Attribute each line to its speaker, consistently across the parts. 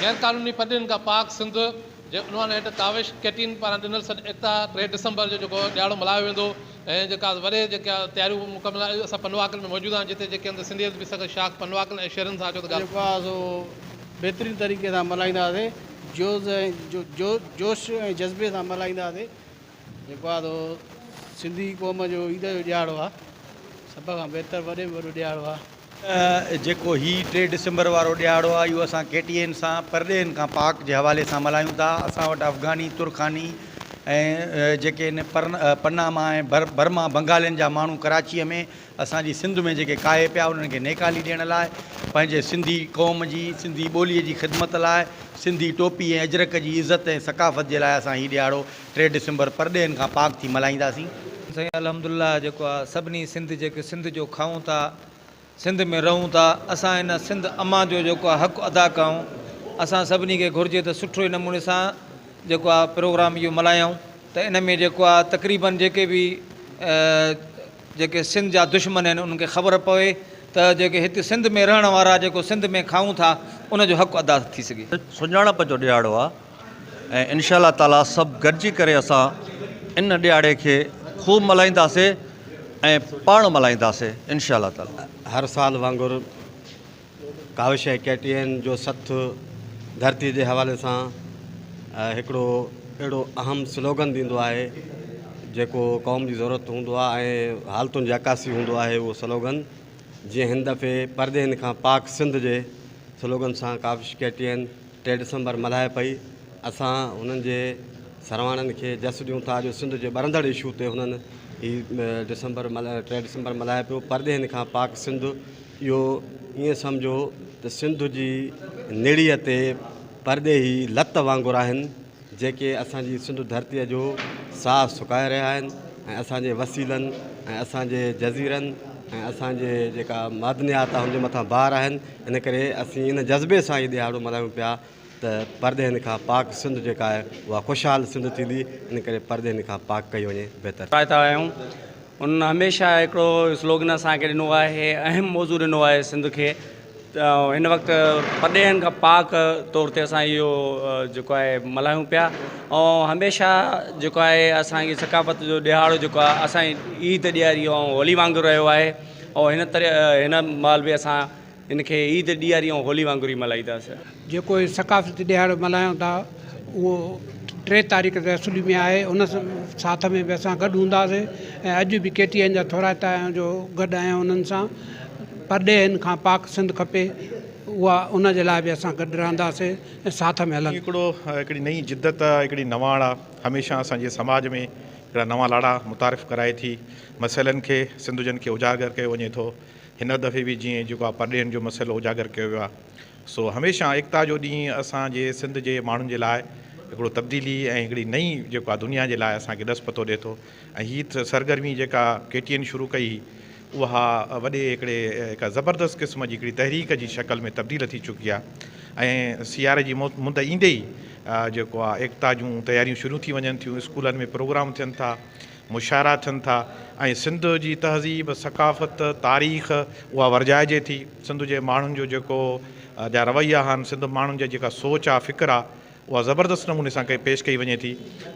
Speaker 1: غيرقانوني پٽڙين کان پاڪ سنڌ جي عنوان هيٺ ڪاوش ڪيٽين پاران ڏنل سڏ ايڪتا ٽي ڊسمبر جو جيڪو ڏهاڙو ملهايو ويندو ۽ جيڪا وڏي جيڪا تياريون مڪمل آهن اسان پنواڪل ۾ موجود آهيون جتي جيڪي هنڌ سنڌي ادبي سنگت شاخ پنواڪل ۽ شهرين سان اچو ته ڳالهه جيڪو آهي سو
Speaker 2: بهترين طريقي سان ملهائينداسي جوز ۽ جوش ۽ جذبي سان ملهائينداسي جيڪو آهي سو سنڌي قوم جو عيد جو ڏيهاڙو آهي. سڀ کان بهتر وڏي ۾ وڏو ڏيهاڙو آهي. جيڪو
Speaker 3: هي ٽي ڊسمبر وارو ڏيهاڙو آهي اهو اسان ڪي ٽي اين سان پرڏيهين کان پاڪ جي حوالي سان ملهايون ٿا. اسان وٽ افغاني، ترخاني ۽ جيڪي ان پناما ۽ برما بنگالين جا ماڻهو ڪراچيء ۾ اسان جي سنڌ ۾ جيڪي ڪاهي پيا انهن کي نيڪالي ڏيڻ لاء پنهنجي سنڌي قوم جي سنڌي ٻوليء جي خدمت لاء سنڌي ٽوپي ۽ اجرڪ جي عزت ۽ ثقافت جي لاء اسان هي ڏيهاڙو ٽي ڊسمبر پرڏيهين کان پاڪ ٿي ملهائينداسين. سائين الحمد
Speaker 4: الله جيڪو آ سڀني سنڌ جيڪي سنڌ جو کائون ٿا سنڌ ۾ رهون ٿا اسان ان سنڌ امان جو جيڪو آ حق ادا ڪيون اسان سڀني کي گهرجي ته سٺي نموني سان جيڪو آ پروگرام اهو ملهايون ته ان ۾ جيڪو آ تقريبن جيڪي به جيڪي سنڌ جا دشمن آهن انهن کي خبر پوي ته جيڪي هت سنڌ ۾ رهڻ وارا جيڪو سنڌ ۾ کائون ٿا ان جو حق ادا ٿي سگهي. سڃاڻپ جو ڏهاڙو
Speaker 5: آ. ۽ انشاء الله تعالي سڀ گڏجي ڪري اسان ان ڏيھاڙي کي خوب ملھائينداسي ۽ پاڻ ملھائينداسي انشاء الله تعالي. هر سال وانگر
Speaker 6: ڪاوش ۽ ڪي ٽي اين جو سٿ ڌرتي جي حوالي سان هڪڙو اهڙو اهم سلوگن ڏيندو آهي جيڪو قوم جي ضرورت هوندو آهي ۽ حالتن جي عڪاسي هوندو آهي اهو سلوگن جيئن هن دفعي پرڏيهين کان پاڪ سنڌ جي سلوگن سان ڪاوش ڪي ٽي اين ٽي ڊسمبر ملهائي پئي اسان هنن جي سرواڻن کي جس ڏيون ٿا جو سنڌ جي ٻرندڙ اشو تي هنن هي ڊسمبر ٽي ڊسمبر ملهائي پيو پرڏيهين کان پاڪ سنڌ اهو ائين سمجهو ته سنڌ جي نڙيء تي پرڏيهي لت وانگر آهن جيڪي اسان جي سنڌ ڌرتيء جو ساهه سڪائي رهيا آهن ۽ اسان جي وسيلن ۽ اسان جي جزيرن ۽ اسان جي جيڪا معدنيات آهي ان جي مٿان بار آهن ان ڪري اسين ان جذبي سان هي ڏهاڙو ملهايون پيا ته پرڏيهين کان پاڪ سنڌ جيڪا آهي اها خوشحال سنڌ ٿيندي ان ڪري پرڏيهين کان پاڪ ڪئي وڃي بهتر ٿيندي. رائتا آهيون
Speaker 7: انهن هميشه هڪڙو سلوگن اسان کي ڏنو آهي اهم موضوع ڏنو آهي سنڌ کي هن وقت پرڏيهين کان پاڪ طور تي اسان اهو جيڪو آهي ملهايون پيا ۽ هميشه جيڪو آهي اسانجي ثقافت جو ڏهاڙو جيڪو آهي اسانجي عيد ڏياري ۽ هولي وانگر رهيو آهي ۽ هن طرح هن مال بي اسان هن کي عيد ڏياري ۽ هولي وانگر ئي ملهائينداسين جيڪو هي ثقافتي
Speaker 8: ڏهاڙو ملهايون ٿا اهو ٽي تاريخ تي اسولي ۾ آهي ان ساٿ ۾ به اسان گڏ هونداسين ۽ اڄ به ڪي ٽي اين جا ٿورائتا آهيون جو گڏ آهيون انهن سان پرڏيهين کان پاڪ سنڌ کپي اها ان جي لاء به اسان گڏ رهنداسين ۽ ساٿ ۾ هلنداسين. هڪڙو هڪڙي نئين
Speaker 9: جدت آ هڪڙي نواڻ آ هميشه اسان جي سماج ۾ هڪڙا نوان لاڙا متعارف ڪرائي ٿي مسئلن کي سنڌجن کي اجاگر ڪيو وڃي ٿو هن دفعي به جيئن جيڪو آ پرڏيهين جو مسئلو اجاگر ڪيو ويو آ سو هميشه ايڪتا جو ڏينهن اسان جي سنڌ جي ماڻهن جي لاء هڪڙو تبديلي ۽ هڪڙي نئين جيڪو آ دنيا جي لاء اسان کي ڏس پتو ڏي ٿو ۽ هي سرگرمي جيڪا ڪي ٽي اين شروع ڪئي هئي اها وڏي هڪڙي هڪ زبردست قسم جي هڪڙي تحريڪ جي شڪل ۾ تبديل ٿي چڪي آ ۽ سياري جي مند ايندي ئي جيڪو آ ايڪتا جون تياريون شروع ٿي وڃن ٿيون اسڪولن ۾ پروگرام ٿين ٿا مشاعرا ٿين ٿا ۽ سنڌ جي تهذيب، ثقافت، تاريخ اها ورجائجي ٿي. سنڌ جي ماڻهن جو جيڪو جا رويا آهن، سنڌ ماڻهن جي جيڪا سوچ آ، فڪر آ، اها زبردست نموني سان ڪئي پيش ڪئي وڃي ٿي.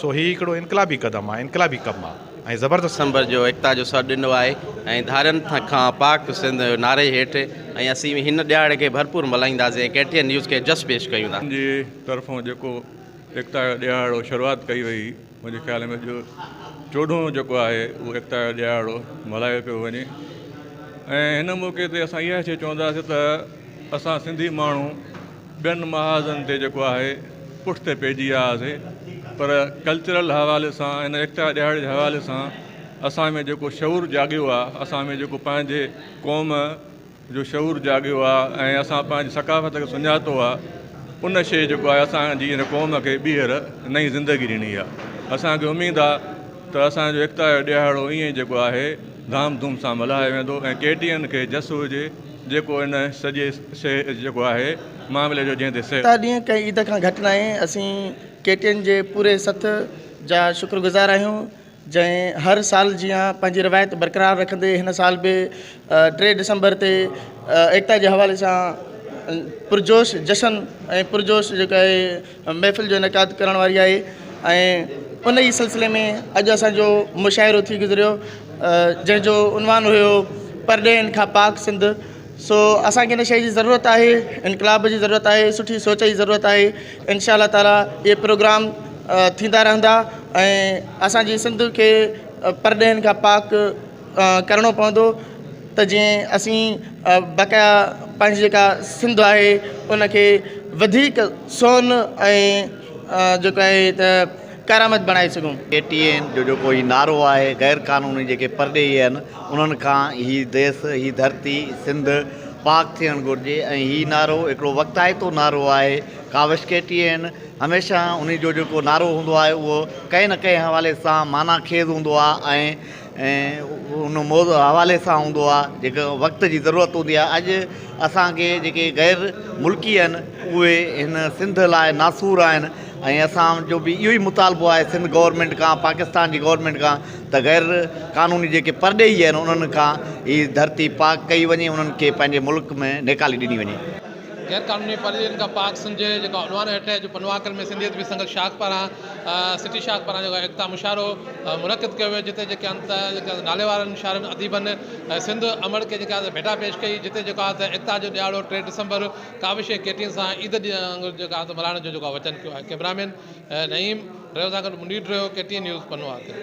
Speaker 9: سو هي هڪڙو انقلابي قدم آ، انقلابي ڪم آ ۽ زبردست ڪم آ. سمبر جو ايڪتا جو سڏ
Speaker 10: ڏنو آهي ۽ ڌارين کان پاڪ سنڌ جو نعري هيٺ ۽ اسين هن ڏهاڙي کي ڀرپور ملهائينداسين ۽ ڪي ٽي اين نيوز کي جس پيش ڪيون ٿا. سنڌ جي طرفون
Speaker 11: جيڪو ايڪتا جو ڏهاڙو شروعات ڪئي وئي. منهنجي خيال ۾ اڄ چوڏهون جيڪو آهي اهو ايڪتا جو ڏهاڙو ملهايو پيو وڃي ۽ هن موقعي تي اسان اها شيء چونداسين ته اسان سنڌي ماڻهو ٻين محاذن تي جيڪو آهي پٺتي پئجي ويا هئاسي پر ڪلچرل حوالي سان هن ايڪتا ڏهاڙي جي حوالي سان اسان ۾ جيڪو شعور جاڳيو آهي اسان ۾ جيڪو پنهنجي قوم جو شعور جاڳيو آ ۽ اسان پنهنجي ثقافت کي سڃاتو آ ان شيء جيڪو آ اسان جي هن قوم کي ٻيهر نئين زندگي ڏني آ اسان کي اميد آ ته اسان جو ايڪتا جو ڏيهاڙو ائين ئي جيڪو آهي ڌام ڌوم سان ملهايو ويندو ۽ ڪي ٽي اين کي جس هجي جيڪو ان سڄي سي جيڪو آهي معاملي جو جنهن تي سي ايڪتا ڏينهن ڪنهن عيد کان گهٽ
Speaker 12: ناهي اسين ڪي ٽي اين جي پوري سٿ جا شڪر گذار آهيون. جنهن هر سال جيان پنهنجي روايت برقرار رکندي هن سال به ٽي ڊسمبر تي ايڪتا جي حوالي سان پرجوش جشن ۽ پرجوش جيڪا آهي محفل جو انعقاد ڪرڻ واري آهي ۽ ان ئي سلسلي ۾ اڄ اسانجو مشاعرو ٿي گذريو جنهن جو عنوان هيو پرڏيهين کان پاڪ سنڌ سو اسانکي ان شئي جي ضرورت آهي انقلاب جي ضرورت آهي سٺي سوچ جي ضرورت آهي انشاء الله تعالٰي اهي پروگرام ٿيندا رهندا ۽ اسانجي سنڌ کي پرڏيهين کان پاڪ ڪرڻو پوندو ته جيئن اسين بقايا پنهنجي جيڪا سنڌ آهي انکي وڌيڪ سون ۽ جيڪا هي ته ڪارآمد بڻائي سگهون. اي ٽي اين جو جيڪو
Speaker 13: هي نعرو آهي غير قانوني جيڪي پرڏيهي آهن انهن کان هي ديس هي ڌرتي سنڌ پاڪ ٿيڻ گهرجي ۽ هي نعرو هڪڙو وقتائتو نعرو آهي ڪاوش ڪي ٽي اين هميشه انهي جو جيڪو نعرو هوندو آهي اهو ڪنهن نه ڪنهن حوالي سان معنيٰ خيز هوندو آهي ۽ ۽ ان موضوع حوالي سان هوندو آهي جيڪو وقت جي ضرورت هوندي آهي اڄ اسانکي جيڪي غير ملڪي آهن اهي هن سنڌ لاء ناسور آهن ۽ اسان جو به اهو ئي مطالبو آهي سنڌ گورمينٽ کان پاڪستان جي گورمينٽ کان ته غير قانوني جيڪي پرڏيهي آهن انهن کان هي ڌرتي پاڪ ڪئي وڃي انهن کي پنهنجي ملڪ ۾ نيڪالي ڏني وڃي. غير قانوني
Speaker 1: پرڏيهين کان پاڪ سنڌ جي جيڪا عنوان هيٺ جو پنواڪر ۾ سنڌيت ويسنگل شاخ پاران سٽي شاهه پاران جيڪو ايڪتا مشاعرو منعقد ڪيو ويو جتي جيڪي انت جيڪي ناليوارن شاعرن اديبن سنڌ امڙ کي جيڪا ڀيٽا پيش ڪئي جتي جيڪو آهي ته ايڪتا جو ڏهاڙو ٽي ڊسمبر ڪاوش جي ڪيٽين سان عيد ڏينهن وانگر جيڪو آهي ته ملهائڻ جو جيڪو آهي وچن ڪيو آهي ڪيمرا مين نعيم ريو سان گڏ منير ريو ڪيٽين نيوز پنو آهي